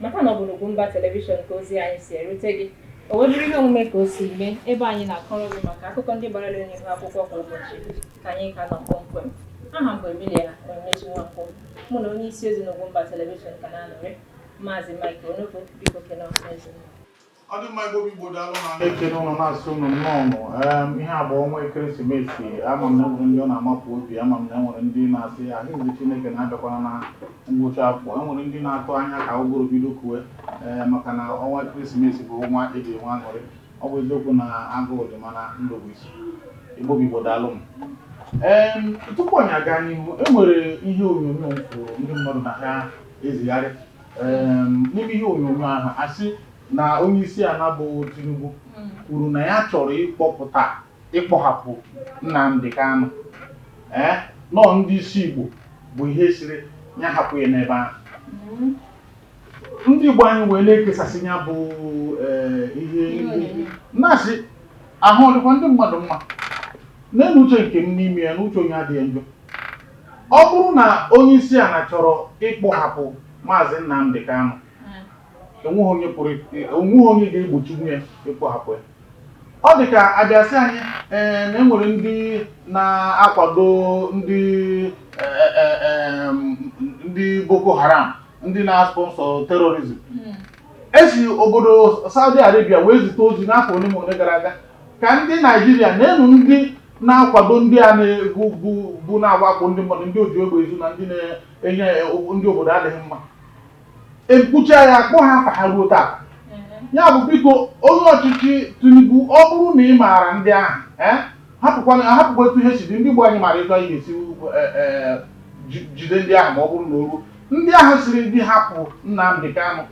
Mata na ọ bụ n'Ugwumba Televishọn ka ozi anyị si erute gị. O wee bụrụ ihe omume ka o si mee, ebe anyị na-akọrọ gị maka akụkọ ndị gbara elu n'ihu akwụkwọ kwa ụbọchị ka anyị ka nọ kpọmkwem. Aha m bụ Emilia Onyinyechi Nwankwo. Mụ na onye isi ozi n'Ugwumba Televishọn ka na-anọrị, Maazị Mike Onugbu, biko kene ọha na eze unu. ọ dị mma igbo bụ igbo daalụ na na-ekene ụnụ na-asị ụnụ nnọọ em, ihe a bụ ọnwa ekeresimesi ama m na enwere ndị ọ na-amapụ obi ama m na enwere ndị na-asị ahụzi chineke na-abịakwana na ngwụcha afọ enwere ndị na-atụ anya ka ụgụrụ bido kuwe ee maka na ọnwa ekeresimesi bụ ọnwa eji enwe aṅụrị ọ bụ eziokwu na agụụ dị mana ndụ bụ isi igbo bụ igbo daalụ m Em, tupu anyị aga n'ihu e nwere ihe onyonyo m fụrụ ndị mmadụ na ha ezigharị Um N'ime ihe onyonyo ahụ, a sị na onyeisiala bụ Tinubu kwuru na ya chọrọ ịkpọpụta ịkpọhapụ Nnamdi Kanu, ee na ọ ndị isi Igbo bụ ihe sịrị ya hapụ ya n'ebe ahụ. Ndị Igbo anyị wee na-ekesasị ya bụ um ihe na-asị ahụ ọ dịkwa ndị mmadụ mma. N'elu uche nke m n'ime ya, na uche onye adịghị ya njọ. Ọ bụrụ na onyeisiala chọrọ ịkpọhapụ Maazị Nnamdi Kanu, enweghị onye pụrụ enweghị onye ga-egbochinwu ya ịkpọhapụ ya. Ọ dị ka a bịa sị anyị ee na e nwere ndị na-akwado ndị ndị Boko Haram ndị na-sponsor terrorism esi obodo Saudi Arabia wee zite ozi n'afọ ole ma ole gara aga ka ndị Naijiria nee nụ ndị na-akwado ndị a na-ebu bụ bụ na-awakpo ndị mmadụ ndị oji egbe ezu na ndị na-enye ndị obodo adịghị mma ekwucha ya akpọhọ afa ha ruo taa ya bụ biko onye ọchịchị Tinubu ọ bụrụ na ị maara ndị ahụ eh, hapụkwana ahapụkwa etu ihe si dị ndị igbo anyị mara etu anyị ga-esi eh, eh, ji- jide ndị ahụ ma ọ bụrụ na o ruo ndị ahụ sịrị gị hapụ Nnamdị Kanụ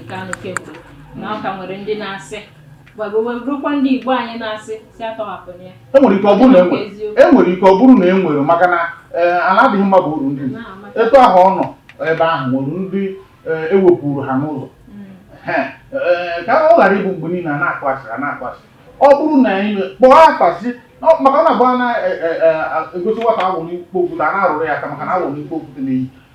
nke anụ kemgbe na ọ ka nwere ndị na-asị rukwa ndị Igbo anyị na-asị si atọhapụrụ ya enwere ike ọ bụrụ na enwere enwere ike ọ bụrụ na enwere maka na eh, ala adịghị mma bụ uru ndị etu ahụ ọ nọ ebe ahụ nwere ndị ewepụrụ eh, e ha n'ụzọ hmm. eh, ka ọ ghara ịbụ mgbe niile a na-akụ asị a na-akụ asị ọ bụrụ na anyị kpọọ akpasị maka ọ na-abụ a na-egosi nwata awọ n'ikpo okwute a na-arụrụ ya aka maka na awọ na ikpo okwute na-eyi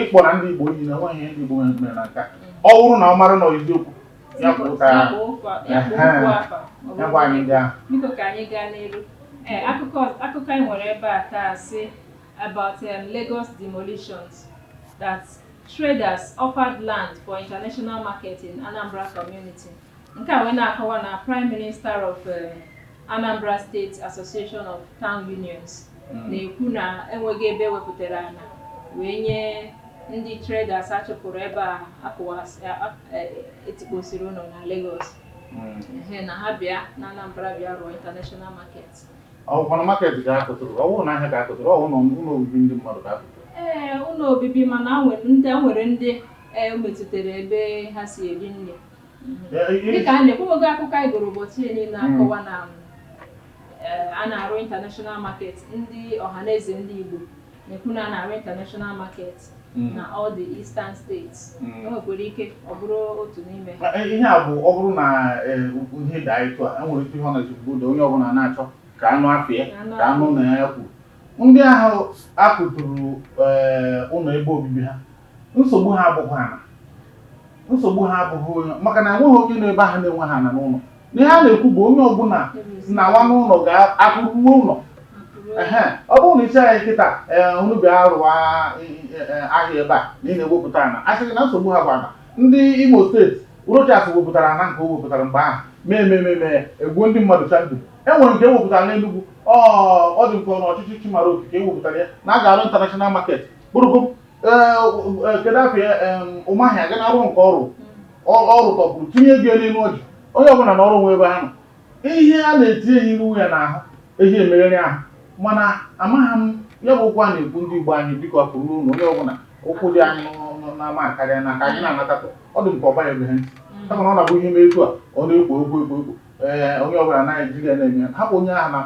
ịkpọ na ndị Igbo niile nwe ihe ndị Igbo mere na nke ọ bụrụ na ọ mara na eziokwu ya bụ ụka ya gwa anyị ndị ahụ biko ka anyị gaa n'iru ee akụkọ akụkọ anyị nwere ebe a taa sị about um, Lagos demolitions that traders offered land for international market in Anambra community Nke a wee na-akọwa na Prime Minister of Anambra State Association of Town Unions na-ekwu na enweghị ebe e wepụtara ana wee nye ndị traders a chụpụrụ ebe a akụwas- a- a- e- etikposiri ụlọ na Lagos Ehe, na ha bịa na Anambra bịa rụọ international market ọ kwa na market ka a kụturu ọ wụ na ahịa ka a kụturu ọ wụ na ụlọ obibi ndị mmadụ ka a kụturu ee ụlọ obibi mana a nwere ndị a nwere ndị e metụtara ebe ha si eri nri dịka a na-ekwugo akụkọ anyị gụrụ ụbọchị niile na-akọwa na eh, a na-arụ international market ndị ọhaneze ndị Igbo na-ekwu na a na-arụ international market Mm. na all the eastern states Mm. o nwekwara ike ọ bụrụ otu n'ime ha Eh, ihe a bụ ọ bụrụ na eh, ihe daa etu a enwere ike ihe ọ na-echekwa ụda onye ọbụla na-achọ ka a nụ afa ya a nụ ka a nụ na ya kwuru ndị ahụ a kụturu eh, ụlọ ebe obibi ha nsogbu ha abụghị ana nsogbu ha abụghị onye maka na enweghị onye nọ ebe ahụ na-enweghị ana n'ụlọ na ihe a na-ekwu bụ onye ọbụla nawa n'ụlọ ka akụ ruo ụlọ ehe ọ bụrụ na ị sị anyị kịta ee unu bịa rụwa ahịa ebe a na ị na-ewepụta ana asịghị na nsogbu ha bụ ana ndị Imo steeti Rochas wepụtara ana nke o wepụtara mgbe ahụ mee ememe mee egbuo ndị mmadụ chandụ e nwere nke e wepụtara n'Enugwu ọ ọ dị m ka ọ bụ ọchịchị Chimaroke wepụtara ya na a ga-arụ international market kpụrụkpụ kedu afa ya Umahi ga na-arụ nke ọrụ ọrụ tọpụrụ tinye gị n'ime ọjị onye ọbụla na ọrụ nwe ebe ahụ ihe a na-etinye ya iwu ya n'ahụ eji emegharị ahụ mana amaghị m ya bụ okwu a na-ekwu ndị Igbo anyị biko pụrụ n'ụlọ onye ọbụla ụkwụ dị anyị n'ama akarịana ka anyị na-anatatụ ọ dị m ka ọ banyebeghị ha ntị mm. kama na ọ na-abụ ihe mee etu a ọ na-ekwo ekwo ekwo ekwo ee onye ọbụla anaghị eji ya na-eme hapụ onye ahụ na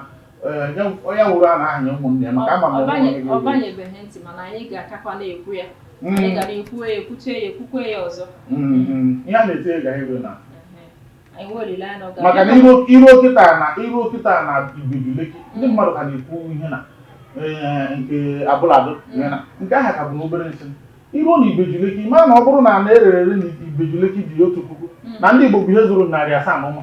onye nwụrụ a na-ahanye ụmụnne ya maka ama m na onye ọ banyebeghị ntị mana anyị ga-akakwa na-ekwu ya mm. anyị ga na-ekwu ya ekwuchaa ya ekwukwe ya ọzọ mm-hmm. ihe a na-etinye ga iru na maka na i ruo kịta na i ruo kịta na Ibeju Lekki ndị mm. mmadụ ka na-ekwu ihe na eh, nke Abule Ado mm. na nke ahụ ka bụ na obere nsị i ruo na Ibeju Lekki ma na ọ bụrụ na ana e rere na Ibeju Lekki dị otu puku na ndị Igbo bụ ihe zụrụ narị asaa na ụma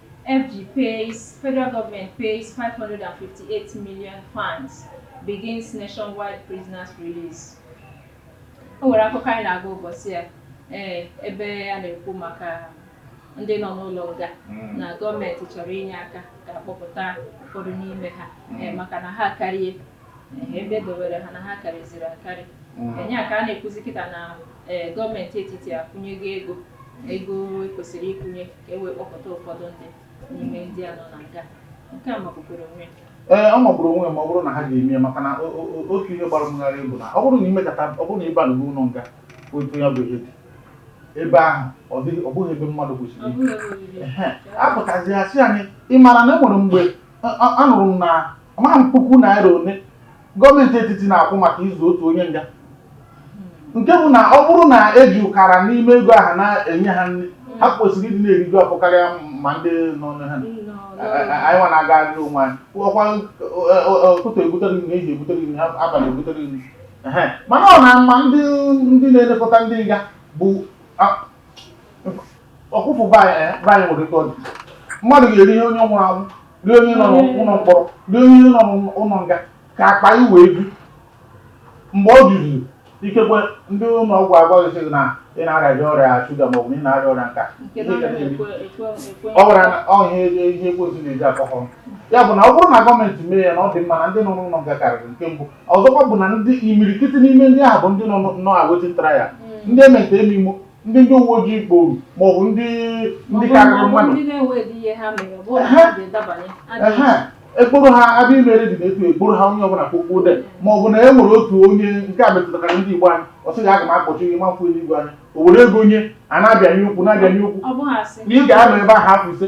FG pays, Federal Government pays 558 million fines, begins nationwide prisoners release. O nwere akụkọ anyị na-agụ ụbọchị a ee ebe a na-ekwu maka ndị nọ n'ụlọ nga hmm. na gọọmenti chọrọ inye aka ka akpọpụta ụfọdụ n'ime ha hmm. maka na ha akarịa ebe e dowere ha na ha karịziri akarị enye a ka a na-ekwuzi kịta na gọọmenti etiti akwụnyego ego ego e kwesịrị ịkwụnye ka e wee kpọpụta ụfọdụ ndị n'ime ndị a nọ na nga nke a makwukwere onwe ya ee ọ magburu onwe ya ma ọ bụrụ na ha ga-eme ya maka na otu ihe gbara m gharịị bụ na ọ bụrụ na i mekata ọ bụrụ na ị ba n'ụlọ nga otu ya bụ ihe dị ebe ahụ ọ dịghị ọ bụghị ebe mmadụ kwesịrị a pụtazi a sị anyị ị maara na e nwere mgbe Anụrụ m na amaghị m puku naira one gọọmenti etiti na-akwụ maka ịzụ otu onye nga nke bụ na ọ bụrụ na e ji ọkara n'ime ego ahụ na-enye ha nri ha kwesịrị ịdị na-eriju afọ karịa ma ndị nọ na ha anyị nwa na-agagharịrị onwe anyị ọkwa ụtụtụ ebutere nri ehihie ebutere nri ha abalị ebutere nri Ehe. mana ọ na ma ndị ndị na-elekọta ndị nga bụ a- ọkụfụ be anyị eh, be anyị nwere ike ọ dị mmadụ ga-eri ihe onye nwụrụ anwụ rie onye nọ n'ụlọ mkpọrọ rie onye nọ n'ụlọ nga ka akpa ya wee bi mgbe o juziri ikekwe ndị ụlọ ọgwụ agwa gị sị gị na ị na-arịa ọrịa shuga ma ọ bụ na ị na-arịa ọrịa nke a Nke na ọ naghị ekwe ekwe ekwe. ọ gwara na ọ ihe ihe ihe e kwesịrị na-eji akọkọ ya bụ na ọ bụrụ na gọọmenti mee ya na ọ dị mma na ndị nọ n'ụlọ nga karịrị nke mbụ ọzọkwa bụ na ndị imirikiti n'ime ndị ahụ bụ ndị nọ nọ awaiting trial ndị emente eme imo ndị ndị uwe ojii kporo maọbụ ndị ndị karịrị mmadụ e kporo ha abịa imere dị n'etu e kporo ha onye ọbụla kpokpo de ma ọ bụ na e nwere otu onye nke a metụtara ndị Igbo anyị ọ sị gị aga m akpọchi gị ị ma-afụ eluigwe anya o were ego nye a na-abịanye okwu na-abịanye okwu na ị ga-anọ ebe ahụ afọ ise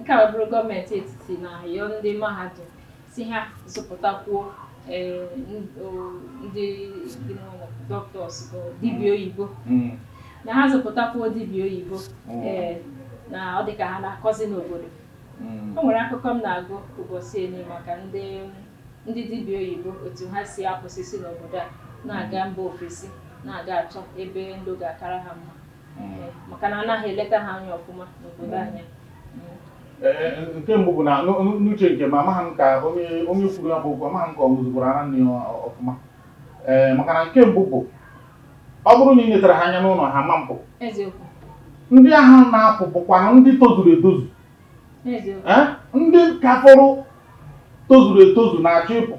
Nke a abụrụ gọọmenti etiti na-ayọ ndị mahadum sị ha zụpụtakwuo eh, n- o- ndị ndị doctors bụ dibịa oyibo Mm. na ha zụpụtakwuo dibịa oyibo Mm. eh, na ọ dị ka ha na-akọzi n'obodo Mm. o nwere akụkọ m na-agụ ụbọchị eni maka ndị ndị dibịa oyibo otu ha si apụsịsị n'obodo a na-aga mba ofesi na-aga achọ ebe ndụ ga-akara ha mma maka na anaghị eleta ha anya ọfụma n'obodo anyị nke mbụ bụ na n'uche nke m amaghị m ka onye onye kwuru ya bụ okwu amaghị m ka ọ ṅụzikwara ara nne ya ọfụma ee maka na nke mbụ bụ ọ bụrụ na ị letara ha anya n'ụlọ ha ma-apụ ndị ahụ na-apụ bụkwa ndị tozuru etozu Eh? ndị ka fọrọ tozuru etozu na-achọ ịpụ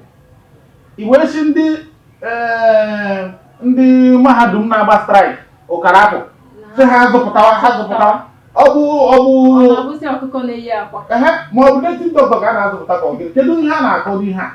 i wee sị ndị eh, ndị mahadum na-agba strike ọkara afọ sị ha zụpụtawa ha zụpụtawa ọ bụ ọ bụ Ọ na-abụzi ọkụkọ na-eyi akwa. ehe ma ọ bụ native doctor ka a na-azụpụta ka ọ gịnị kedu ihe a na-akọ n'ihe a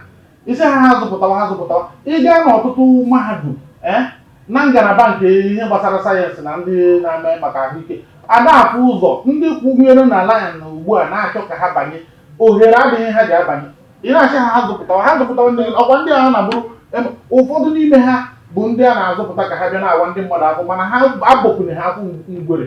ị sị ha ha zụpụtawa ha zụpụtawa ị gaa n'ọtụtụ mahadum ee na ngalaba nke ihe gbasara sayensị na ndị na-eme maka ahụike ada afụ ụzọ ndị kwụnyere na layan na ugbu a na-achọ ka ha banye ohere adịghị ha ji abanye ị na-asị ha ha zụpụtawa ha zụpụtawa ndị ọkwa ndị a na-abụrụ ụfọdụ n'ime ha bụ ndị a na-azụpụta ka ha bịa na-awa ndị mmadụ afọ mana ha abọpụnụghị afọ ngwere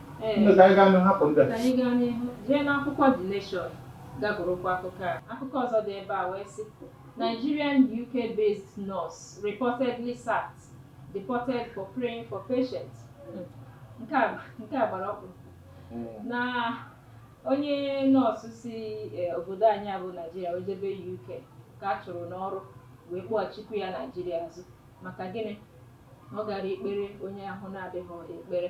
Ndị ka anyị gaa n'ihu hapụ ndị a. Ka anyị gaa n'ihu jee n'akwụkwọ The Nation ga gụrụkwa akụkọ a. Akụkọ ọzọ dị ebe a wee sị Nigerian UK-based nurse reportedly sacked, deported for praying for patient. Hmm. Nke a nke a gbara ọkpụ hmm. na onye nọọsụ si eh, obodo anyị a bụ Naijiria wee jebe UK ka a chụrụ n'ọrụ wee kpọghachikwu ya Naijiria azụ maka gịnị ọ gara ikpere onye ahụ na-adịghị ekpere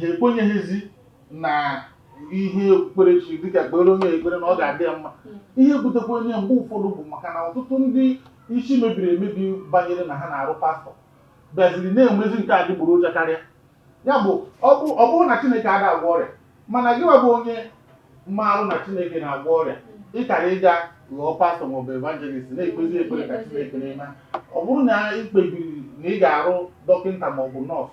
ha ekwenyeghịzi na ihe okpukperechi dịka kpere onye ekpere na ọ ga-adị ya mma ihe butekwanụ ya mgbe ụfọdụ bụ maka na ọtụtụ ndị isi mebiri emebi banyere na ha na-arụ pastọ bịaziri na-enwezi nke adịgboroja karịa ya bụ ọ bụ ọ bụrọ na Chineke ada agwọ ọrịa mana gịwa bụ onye maalụ na Chineke na-agwọ ọrịa ị kara ịga ghọọ pastọ maọbụ evangelist na-ekpezi ekpere ka Chineke na-eme ọ bụrụ na ị kpebiri na ị ga-arụ dọkịta maọbụ nọọsụ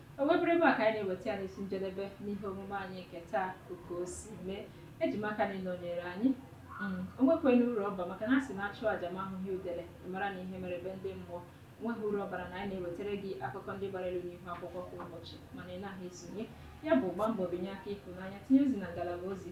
O wee bụrụ ebe a ka anyị na-eweta ya n'isi njedebe n'ihe omume anyị nke taa ka o si mee eji m aka na ị nọnyere anyị mm, o nwekwanụ uru ọ ba maka na a sị na a chụọ aja ma ahụghị udele mara na ihe mere be ndị mmụọ o nweghị uru ọ bara na anyị na-ewetara gị akụkọ ndị gbara elu n'ihu akwụkwọ kwa ụbọchị mana ị naghị esonye ya bụ gbaa mbọ binye aka ịhụnanya tinye ozi na ngalaba ozi